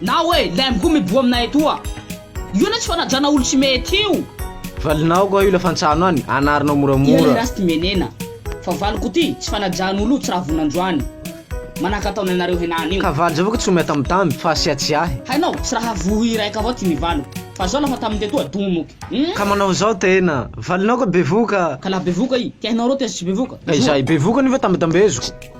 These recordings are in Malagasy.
Na hoe lem koa miboa aminay etoa. Io anie tsy fanajana olo tsy mety io. Valinao ko io lafantsano any anarinao moramora. Iha le last menena fa valiko ty tsy fanajan olo tsy raha vona androany manahaka ataonay nareo henany io. Ka valy zao ko tsy ho miatamitamby fa asia tsiahy. Hainao tsy raha voa iraika avao ty ny valiko fa zao lafa tamin tetoa domoky umm. Ka manao zao tena. Valinao ko bevoka. Ka la bevoka i. Ty hainao reo tena tsy bevoka. Ka izahay bevoka anio fa tambetambeziko.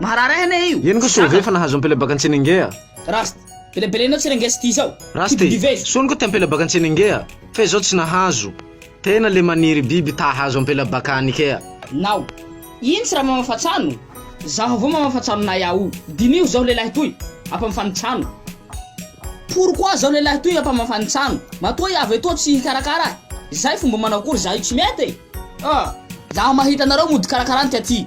Maharary ahy anie io. Eny ko sô ve fa nahazo ampela baka Antsenenge a. Rasta. Pelapelainao Tsenenge sy ty zao. Rasta e, sony ko te ampela baka Antsenenge a, fe zao tsy nahazo. Tena le maniry biby ta hahazo ampela baka any kea. Nao. Iny tsy ra mamafa tsano. Zaho avao mamafa tsano nay aho. Diniho zao lelahy toy, ampamafa ny tsano. Pourquoi zao lelahy toy ampamafa ny tsano. Matoa i avy etoa tsy hikarakara ahy. Zay fomba manao akory za io tsy mety e. Ah. Zaho mahita anareo mody karakarany ty aty.